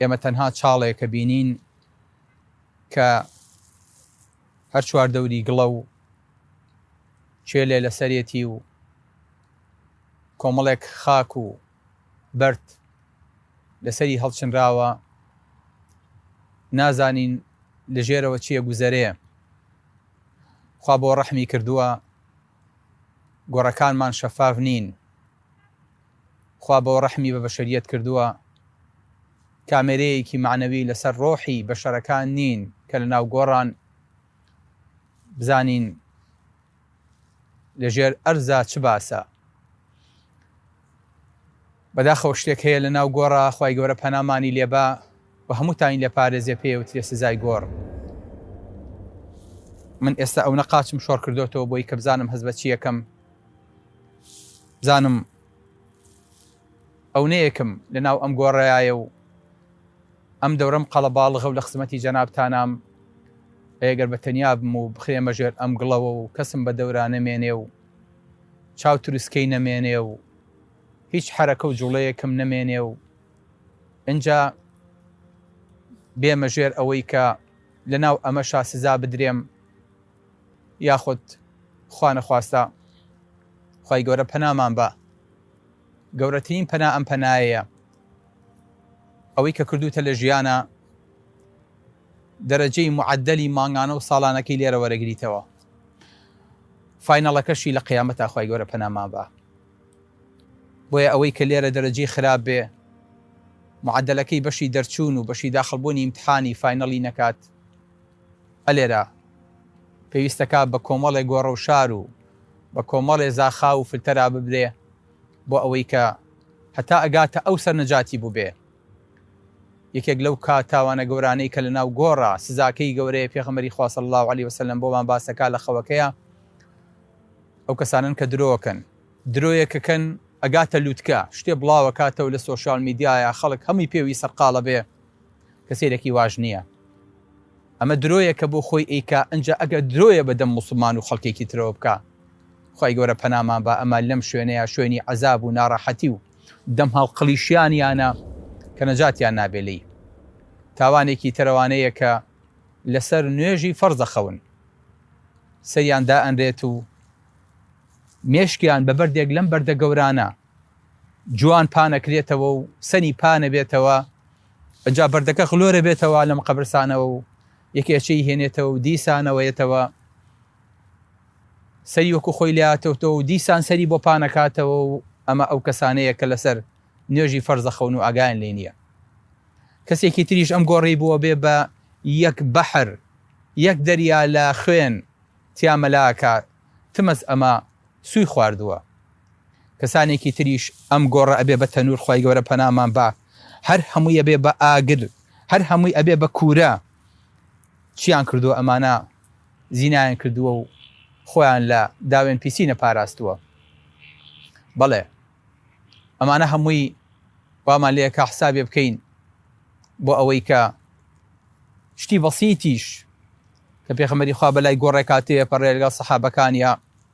ئێمە تەنها چاڵێکە بینین کە هەر چوار دەوری گڵە و چێلێ لەسەرێتی و کۆمەڵێک خاک و بەرد لەسەری هەڵچنراوە نازانین لەژێرەوە چیە گوزەرێ خوا بۆ ڕەحمی کردووە گۆڕەکانمان شەفاف نین خوا بۆ ڕەحمی بە بەشەریەت کردووە کامێرەیەکی مەعنەوی لەسەر ڕۆحی بەشەرەکان نین کە لە ناو گۆڕان بزانین لەژێر ئەرزا چ باسە بەداخەوە شتێک هەیە لە ناو گۆڕا خی گەورە پەنامانی لێبا و هەمووتاین لە پارێزێ پێ و ترێ سزای گۆڕ من ئێستا ئەو نەقاچم شۆڕ کردوەوە بۆی کە بزانم هەز بە چیەکەم زانم ئەو نەیەکم لە ناو ئەم گۆڕایە و ئەم دەورەم قەڵەباڵغە و لە خزمەتی جەنابتانام ئەگەر بە تەنیا بم و بخرێمە ژێر ئەم گڵەوە و کەسم بە دەورا نەمێنێ و چاو تروسکەی نەمێنێ و هیچ حرەکە و جوڵەیەکم نەمێنێ و ئەجا بێمە ژێر ئەوەی کە لە ناو ئەمەشا سزا بدرێم یاخود خوانەخواستە خوای گەورە پەنامان بە گەورەترین پەنا ئەم پەنایەیە ئەوەی کە کردوتە لە ژیانە دەرەجەی معدلی مانگانە و ساڵانەکەی لێرە وەرەگریتەوە فینەڵەکەشی لە قیامەت ئاخوای گەورە پەنامان بە بۆیە ئەوەی کە لێرە دەرەجی خراپ بێ معدلەکەی بەشی دەرچوون و بەشی داخڵبوونی امتحانی فینەڵی نەکات ئە لێرە پێویستەکا بە کۆمەڵێ گۆڕەوشار و بە کۆمەڵێ زاخاو و فلتەرا ببرێ بۆ ئەوەی کە هەتا ئەگاتە ئەو سەرنەجاتی بووبێ. یەکێک لەو کا تاوانە گەورانەی کە لە ناو گۆڕە سزاکەی گەورەیە پێخەمبەری خوا صلی اللە علیە وسلم بۆمان باسەکا لە خەوەکەیا ئەو کەسانن کە درۆکەن درۆیەکەکەن ئەگاتە لوتکە شتێ بڵاوەکاتەوە لە سۆشیال میدیایە خەڵک هەمی پێوی سەرقاڵە بێ کەسێلەکی واش نیە ئەمە درۆیە کە بۆ خۆی ئەیکا ئنجا ئەگەر درۆیە بە دەم موسڵمان و خەڵکێکی ترەوە بکا خوای گەورە پەنامان با ئەمە لەم شوێنەیا شوێنی عەزاب و ناڕەحەتی و دەم هەڵقڵیشیانیانە کە نەجاتیان نابێ لێی تاوانێکی تەرەوانەیە کە لەسەر نوێژی فەرز دەخەون سەریان دائەنرێت و مێشکیان بە بەردێک لەم بەردە گەورانە جوان پانەکرێتەوە و سەری پانەبێتەوە ئەجا بەردەکە خلۆرە بێتەوە لەم قەبرسانەوە و یەکێچەی هێنێتەوە و دیسانەوەیەتەوە سەری وەکو خۆی لاتەوتەوە و دیسان سەری بۆ پانەکاتەوە و ئەمە ئەو کەسانەیە کە لەسەر نوێژی فەرزەخەون و ئاگایان لێ نییە کەسێکی تریش ئەم گۆڕی بووە بێ بە یەک بەحر یەک دەریا لە خوێن تیامەلاکە تمەز ئەمە سوی خواردووە کەسانێکی تریش ئەم گۆڕە ئەبێ بە تەنور خوای گەورە پەنامان با هەر هەمووی ئەبێ بە ئاگر هەر هەمووی ئەبێ بە کوورە چیان کردووە ئەمانە زینایان کردووە و خۆیان لە داوێن پیسی نەپاراستووە بەڵێ ئەمانە هەمووی وامان لەیە کا حسابێ بکەین بۆ ئەوەی کە شتی بەسیتیش کە پێخەمەری خوا بەلای گۆڕێکاتەیە پەڕێلگە سەحابەکانە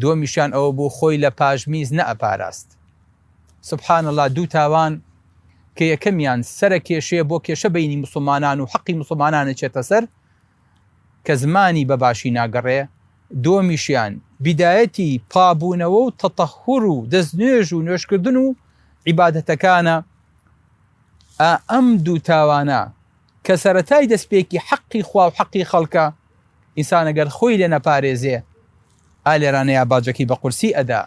دووەمیشیان ئەوە بوو خۆی لە پاش میز نەئەپاراست. سبحان اللە دوو تاوان کە یەکەمیان سەرە کێشەیە بۆ کێشە بەینی موسڵمانان و حەقی موسڵمانان ئەچێتە سەر کە زمانی بە باشی ناگەڕێ، دووەمیشیان بیدایەتی پابوونەوە و تەتەهور و دەستنوێژ و نوێژکردن و عیبادەتەکانە، ئا ئەم دوو تاوانە، کە سەرەتای دەستپێکی حەقی خوا و حەقی خەڵکە، ئینسان گەر خۆی لێ نەپارێزێ ئا لێرانەیا باجەکەی بە قورسی ئەدا.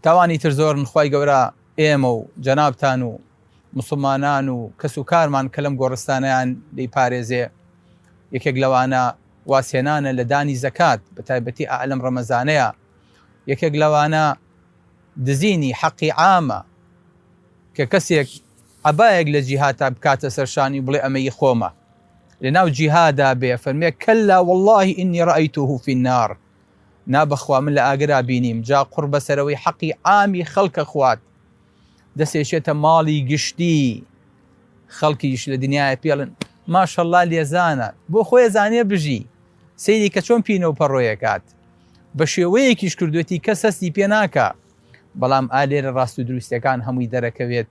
تاوانی تر زۆرن خوای گەورە ئێمە و جەنابتان و موسڵمانان و کەس و کارمان کە لەم گۆڕستانەیان لێی پارێزێ، یەکێک لەوانە واز هێنانە لە دانی زەکات بە تایبەتی ئا لەم ڕەمەزانەیا، یەکێک لەوانە، دزینی حەقی عامە کە کەسێک عەبایەک لە جیهاتا بکاتە سەر شانی و بڵێ ئەمە ی خۆمە لە ناو جیهادا بێ فەرمێ کەللا واللە ئینی رایتوه فی النار نا بەخوا من لە ئاگرا بینیم جا قوڕ بەسەرەوەی حەقی عامی خەڵکە خوات دەسێشێتە ماڵی گشتی خەڵکیش لە دنیایە پێڵن ماشەڵا لێزانە بۆ خۆی زانێ بژی سەیری کە چۆن پینە و پەڕۆیەکات بەشێوەیەکیش کردوێتی کەس هەستی پێ ناکا بەڵام ئا لێرە ڕاست و دروستەکان هەمووی دەرەکەوێت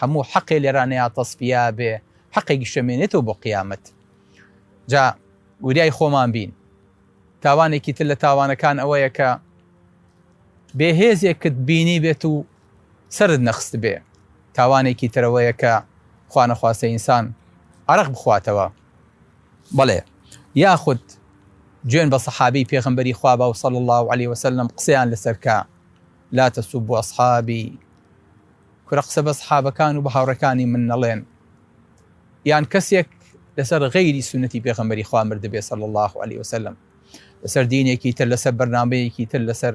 هەموو حەقێ لێرانەیە تەسپیا بێ حەقێکی شەمێنێتەوە بۆ قیامەت جا وریای خۆمان بین تاوانێکی تر لە تاوانەکان ئەوەیە کە بێهێزێکت بینی بێت و سرد نەخست بێ تاوانێکی ترەوەیە کە خوانەخواستە ئینسان عرق بخواتەوە بەڵێ یاخود جوێن بە صەحابەی پێغەمبەری خوا بە صلی اللە علیە وسلم قسەیان لەسەر کە لا تسبوا اصحابی کورە قسە بە صحابەکان و بە هاوڕێکانی من نەڵێن یان کەسێک لەسەر غەیری سونەتی پێغەمبەری خوا مردبێ صلی اللە علیە وسلم لەسەر دینێکی تر لەسەر بەرنمەیەکی تر لەسەر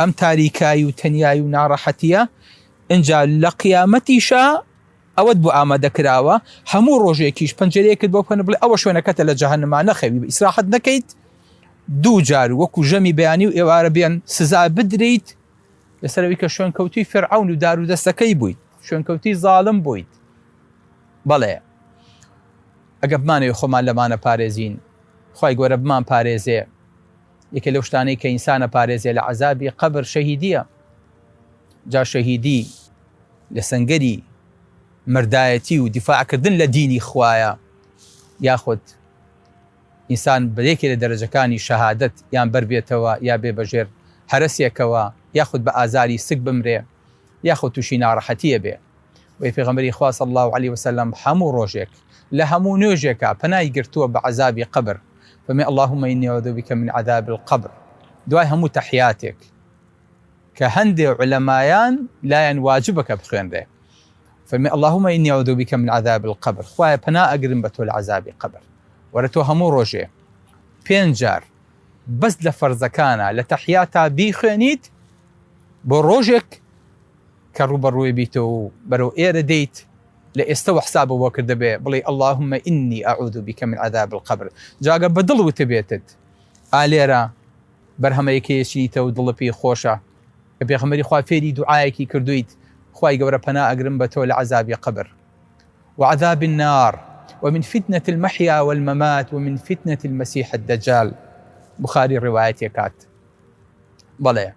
ئەم تاریکایی و تەنیایی و ناڕەحەتییە، ئینجا لە قیامەتیشا ئەوەت بۆ ئامادە کراوە، هەموو ڕۆژێکیش پەنجەرەیەکت بۆ بکەن و بڵێ ئەوە شوێنەکەتە لە جەهەنما نەخەوی ئیسراحەت نەکەیت، دوو جار وەکو ژەمی بەیانی و ئێوارە بێن سزا بدریت، لەسەر ئەوەی کە شوێنکەوتووی فیرعەون و دارودەستەکەی بوویت، شوێنکەوتووی زاڵم بوویت، بەڵێ ئەگەر بمانەوێت خۆمان لەمانە پارێزین، خوای گەورە بمانپارێزێ. یەکێ لەو شتانەی کە ئینسان ئەپارێزێ لە عەزابی قەبر شەهیدییە، جا شەهیدی لە سەنگەری مەردایەتی و دیفاع کردن لە دینی خوایە، یاخود ئینسان بە یەکێ لە دەرەجەکانی شەهادەت یان بەر بێتەوە یا بێ بەژێر هەرەسێکەوە، یاخود بە ئازاری سک بمرێ. یاخود توشی ناڕەحەتی ئەبێ بۆیە پێغەمبەری خوا صلی اللە علیە وسلم هەموو ڕۆژێک لە هەموو نوێژێکا پەنای گرتووە بە عەزابی قەبر فەرمێ اللهم انی اعوذ بک من عذاب القبر دوای هەموو تەحیاتێک کە هەندێ علەمایان لایان واجبە کە بخوێنرێ فەرمێ اللهم انی اعوذ بک من عذاب القبر خوایە پەنا ئەگرم بە تۆ لە عەزابی قەبر وەرە تۆ هەموو ڕۆژێ پێنج جار بەس لە فەرزەکانە لە تەحیاتا بیخوێنیت بۆ ڕۆژێک کە ڕووبەڕووی بیتەوە و بەرەو ئێرە دێیت لە ئێستەوە حساب بۆ کردبێ بڵێی اللهم انی اعوذ بک من عذاب القبر جا گەر بە دڵ وتبێتت ئا لێرە بەرهەمەی کێچیتە و دڵت پێی خۆشە کە پێغەمبەری خوا فێری دوعایەکی کردویت خوای گەورە پەنا ئەگرم بە تۆ لە عەزابی قبر وعذاب النار ومن فتنة المحيا والممات ومن فتنة المسيح الدجال بخاری ڕواەتێکات بەڵێ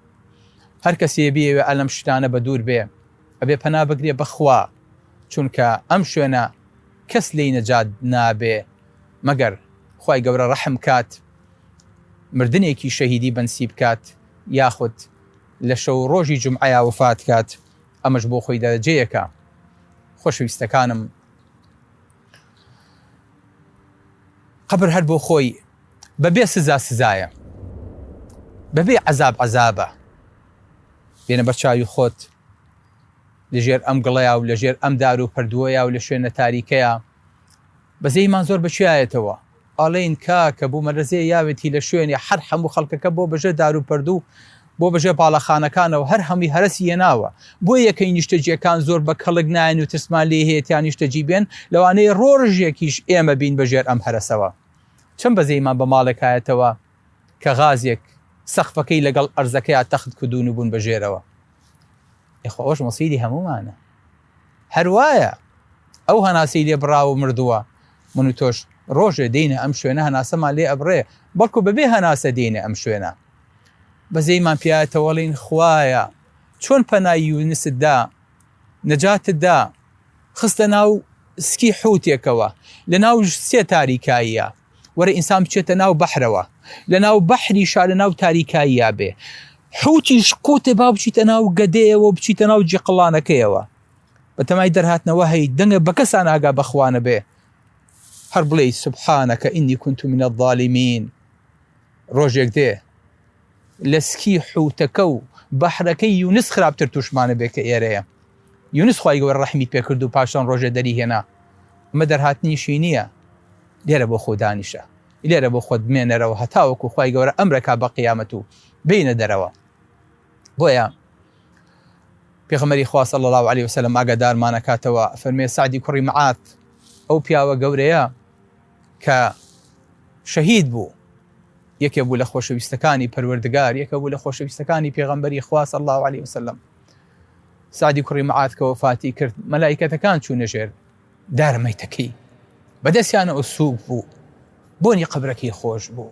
هەر کەسێ بیەوێ ئەلەم شتانە بە دوور بێ ئەبێ پەنا بگرێ بەخوا چونکە ئەم شوێنە کەس لی نەجات نابێ مەگەر خی گەورە ڕەحم کات مردنێکی شەهیدی بەنسی بکات یاخود لە شەو ڕۆژی جمعەیە وفات کات ئەمەش بۆ خۆی دەرەجەیەکە خۆشەویستەکانم قەبر هەر بۆ خۆی بە بێ سزا سزایە، بە بێ عەزاب عەزابە. بێنە بەر چاوی خۆت لە ژێر ئەم گڵەیە و لە ژێر ئەم دار و پەردووەیە و لە شوێنە تاریکەیە بەزەیمان زۆر بەچیایەتەوە ئەڵێن کاکە بومەلەزێ یاوێتی لە شوێنێ هەر هەموو خەڵکەکە بۆ بەژێر دارو پەردو و بۆ بەژێر باڵەخانەکانەوە هەر هەمووی هەرەسی هێناوە بۆ یەکەی نیشتەجیەکان زۆر بە کەڵک نایەن و ترسمان لێ هەیە تیا نیشتەجی بێن لەوانەیە ڕۆژێکیش ئێمە بین بەژێر ئەم هەرەسەوە چەند بەزەیمان بە ماڵێک هایەتەوە کە غازێک سەقفەکەی لەگەڵ ئەرزەکەیا تەخت کردوون و بوون بەژێرەوە ئێخوا ئەوەش مەسیری هەموومانە. هەر وایە ئەو هەناسەی لێ بڕاوە و مردووە، من و تۆش ڕۆژێ دێینە ئەم شوێنە هەناسەمان لێ ئەبڕێ، بەڵکو بەبێ هەناسە دێینە ئەم شوێنە. بەزەیمان پیایەتەوەڵێین، خوایە چۆن پەنای یونست دا، نەجاتت دا، خستە ناو سکی حوتێکەوە، لەناو سێ تاریکاییە، وەرە ئینسان بچێتە ناو بەحرەوە لە ناو بەحری شا لە ناو تاریکاییە بێ حوتیش قوتێ با بچیتە ناو گەدەیەوە بچیتە ناو جیقلانەکەیەوە بەتەمای دەرهاتنەوە هەی دەنگە بە کەسان ئاگا بەخوانە بێ هەر بڵێ سبحانەکە ئینی کونت منە ظالیمین ڕۆژێک دێ لە سکی حوتەکە و بەحرەکەی یونس خراپتر توشمانە بێ کە ئێرەیە یونس خوای گەورە ڕەحمی پێ کرد و پاشان ڕۆژێ دەری هێنا ئەمە دەرهاتنیشی نییە لێرە بۆ خۆ دانیشە لێرە بۆ خۆت بمێنەرەوە هەتاوەکو خوای گەورە ئەمرەکە بە قیامەت و بینە دەرەوە بۆیە پێغمەری خواسە لە لاو علی وسلم ئاگادارمانەکاتەوە فەرمێ سعدی کوڕی معات ئەو پیاوە گەورەیە کە شەهید بوو یەکێ بوو لە خۆشەویستەکانی پەروەردگار یەکە بوو لە خۆشەویستەکانی پێغەمبەری خوا صلی الله علیه وسلم سعدی کوڕی معاد کە وەفاتی کرد مەلایکەتەکان چوونە ژێر دارمەیتەکەی بەدەستیانەوە سووک بوو بۆنی قبرەکەی خۆش بوو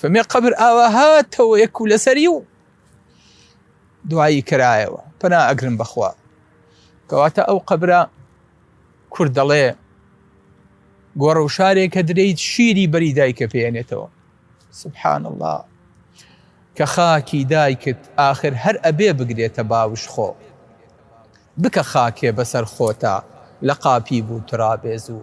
فەرمی قەبر ئاوا هاتەوە یەک و لەسەری و دوایی کرایەوە پەنا ئەگرن بەخوا کەواتە ئەو قەبرە کورد دەڵێ گۆڕە و شارێکە درەیت شیری بەری دایکە پێێنێتەوە سبحان الله کە خاکی دایکت آخر هەر ئەبێ بگرێتە باوش خۆ بکە خاکێ بەسەر خۆتا لە قاپی بوو ترابێزوو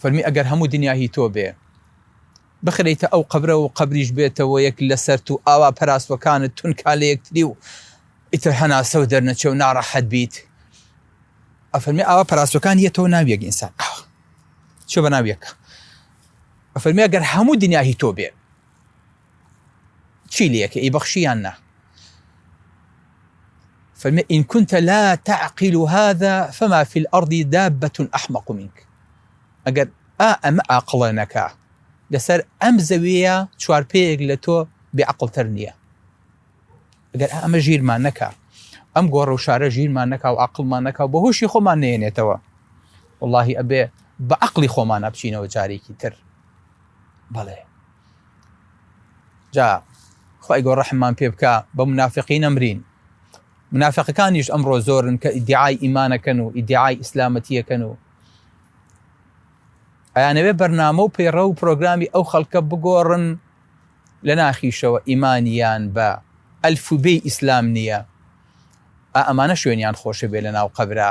فەرمی ئەگەر هەموو دنیا هی تۆ بێ بخرێیتە ئەو قەبرە و قەبریش بێتە وەیەک لەسەرت و ئاوا پەراسوەکانت تونکا لەیەکتری و ئیتر هەناسەو دەرنەچێ و ناڕەحەت بیت ئەفەرمی ئاوا پەراسوەکان یەتەوە ناوی یەک ئینسان ئاوا چێ بە ناوی یەکە ئەفەرمی ئەگەر هەموو دنیا هی تۆ بێ چی لێکە ئی بەخشی یان نا فەرمێ ئین كنت لا تعقل هذا فما في الأرض دابة أحمق منك ئەگەر ئا ئەمە ئاقڵە نەکا لەسەر ئەم زەویە چوار پێیەک لە تۆ بێعقلتر نییە ئەگەر ئەمە ژیرمان نەکا ئەم گۆڕە و شارە ژیرمان نەکا و عقلمان نەکا و بە هۆشی خۆمان نێنێتەوە واللهی ئەبێ بە عقلی خۆمانە بچینەوە جارێکی تر بەڵێ جا خی گۆ ڕەحممان پێ بکە بە منافقی نەمرین منافقەکانیش ئەمڕۆ زۆرن کە ئیدعای ئیمانەکەن و ئیدعای ئیسلامەتیەکەن و ئەیانەوێ بەرنامە و پەیڕە و پرۆگرامی ئەو خەڵکە بگۆڕن لە ناخیشەوە ئیمانیان بە ئەلفوبێ ئیسلام نییە ئەمانە شوێنیان خۆشە بێ لە ناو قەبرا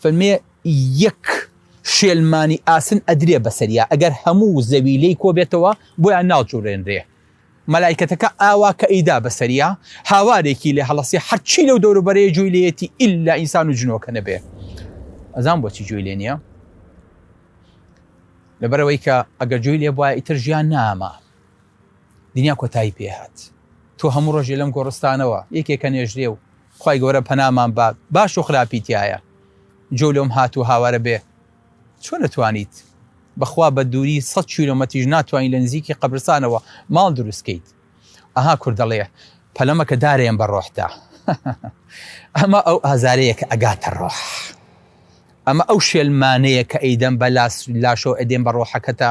فەرمێ یەک شێلمانی ئاسن ئەدرێ بەسەریا ئەگەر هەموو زەوی لێی کۆبێتەوە بۆیان ناجوڵێنرێ، مەلایکەتەکە ئاوا کە ئەیدا بەسەریا هاوارێکی لێ هەڵەسێ هەرچی لەو دەوروبەرەیە جوی لێیەتی ئیلا ئینسان و جنۆکە نەبێ ئەزان بۆچی جوی لێ نییە لەبەرەوەی کە ئەگەر جوی لێ بواە ئیتر ژیان نامە دنیا کۆتایی پێهات تۆ هەموو ڕۆژێ لەم گۆڕستانەوە یەکێکە نێژرێ و خوای گەورە پەنامان بات باش و خراپی تیایە جۆ لۆم هات و هاوارە بێ چۆن ئەتوانیت بەخوا بە دووری سەد کیلۆمەتیش ناتوانی لە نزیکی قەبرسانەوە ماڵ دروست کەیت ئەها کورد دەڵێ پەلەمە کە دارێن بە ڕۆحتا ئەمە ئەو ئازارەیە کە ئەگاتە ڕۆح ئەمە ئەو شێلمانەیە کە ئەیدەم بە لاس لاشۆ ئەدێن بە ڕۆحەکەتە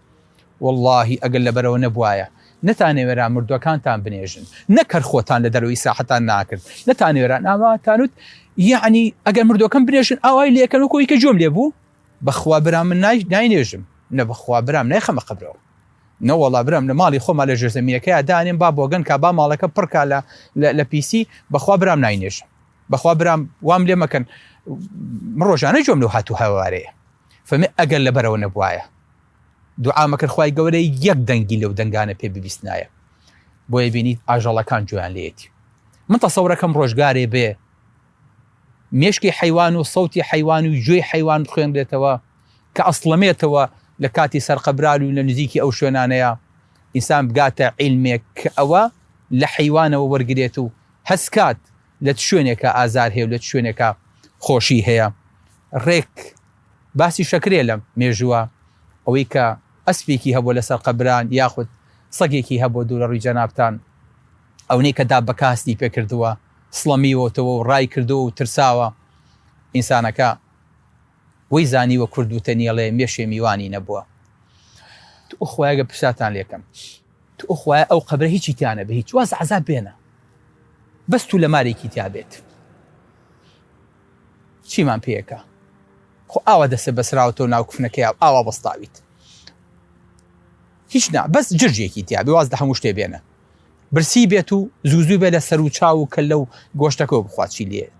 وەڵاهی ئەگەر لەبەرەوە نەبوایە نەتانەوێرا مردوەکانتان بنێژن نەک هەر خۆتان لە دەرەوەی ساحەتان ناکرد نەتانەوێرا ناماتانوت یەعنی ئەگەر مردوەکەم بنێژن ئاوای لێکەن وەکو ئیکە جۆم لێ بوو بەخوا برام من نای ناینێژم نە بەخوا برام نایخەمە قبرەوە نەوەڵا برام لە ماڵی خۆما لە ژێر زەمینەکەیا دانێم با بۆگەن کا با ماڵەکە پڕکا لە لە پیسی بەخوا برام ناینێژم بەخوا برام وام لێ مەکەن ڕۆژانە جۆم لەو هاتوو هاوارەیە فەرمی ئەگەر لەبەرەوە نەبوایە دوعا مەکرد خوای گەورە یەک دەنگی لەو دەنگانە پێ ببیستنایە بۆیە بینیت ئاژەڵەکان جویان لێتی من تەسەورەکەم ڕۆژگارێ بێ مێشکی حیوان و سەوتی حیوان و گوێی حیوان بخوێنرێتەوە کە ئەسڵەمێتەوە لە کاتی سەرقەبرال و لە نزیکی ئەو شوێنانەیە ئینسان بگاتە عیلمێک کە ئەوە لە حیوانەوە وەرگێت و هەستکات لە چ شوێنێکا ئازار هەیە و لە چ شوێنێکا خۆشی هەیە. ڕێک باسی شەکرێ لە مێژووە، ئەوەی کە ئەسپێکی هەبووە لەسەر قەبران یاخود سەگێکی هەبووە دوور لە ڕووی جەنابتان، ئەونەی کە داب بە کاستی پێ کردووە، سڵەمیوەتەوە و ڕای کردووە و ترساوە. ئینسانەکە وەی زانیوە کورد وتەنیەڵێ مێشێ میوانی نەبووە. توخوا ئەگەر پرسیارتان لێ کەم توو خوایە ئەو قەبرە هیچی تیا نەبێ هیچ واز عەزاب بێنە بەس توو لە مارێکی تیا بێت چیمان پێیەکە خۆ ئاوا دەسێ بەسراوەوە ناو کفنەکەی ئاوا بەستاویت هیچ نا بەس جرجێکی تیا بێ واز لە هەموو شتێ بێنە برسی بێت و زوزوو بێ لە سەر و چاو و کە لەو گۆشتەکەەوە بخوات چی لێت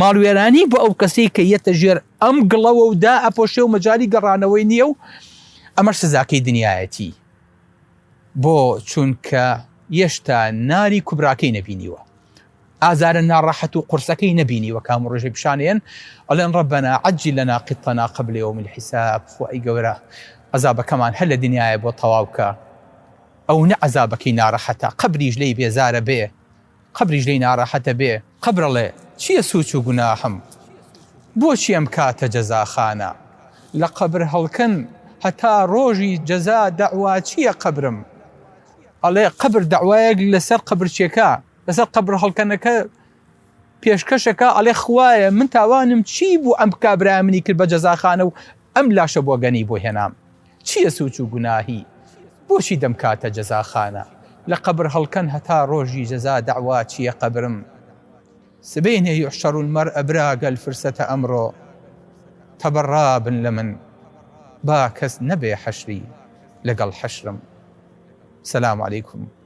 ماڵوێرانی بۆ ئەو کەسەی کە یەتە ژێر ئەم گڵەوە و دا ئەپۆشێ و مەجای گەڕانەوەی نییە و ئەمەش سزاکەی دنیایەتی بۆ چونکە یەشتا ناری کوبراکەی نەبینیوە ئازارە ناڕەحەت و قورسەکەی نەبینیوە کام و ڕژێ پیشانێن ئەڵێن ڕەبەنا عجی لە ناقیتەنا قبلێ و من حیساب خۆی گەورە عذابەکەمان هەر لە دنیاە بۆ تەواوکە ئەو نە عذابەکەی ناڕەحەتە قبریش لی بێزارە بێ قەبریش لێی ناڕەحەت ئەبێ. قەبر ئەڵێ چیە سوچ و گوناحم؟ بۆچی ئەمکاتە جەزاخانە؟ لە قەبر هەڵکەن هەتا ڕۆژی جەزا دەعوا چیە قەبرم؟ ئەڵێ قەبر دەعوایەک لەسەر قەبرچێکە لەسەر قەبر هەڵکەنەکە پێشکەش ئەکا ئەڵێ خوایە من تاوانم چی بوو ئەم کابرایە منی کرد بە جەزاخانە و ئەم لاشە بۆگەنی بۆ هێنام؟ چیە سوچ و گوناهی بۆچی دەمکاتە جەزاخانە لە قەبر هەڵکەن هەتا ڕۆژی جەزا دەعوا چیە قەبرم سبەینێ یحشر المرء برا گەل فرسەتە ئەمڕۆ تەبەڕا بن لە من با کەس نەبێ حەشری لەگەڵ حەشرم سلام علیکم.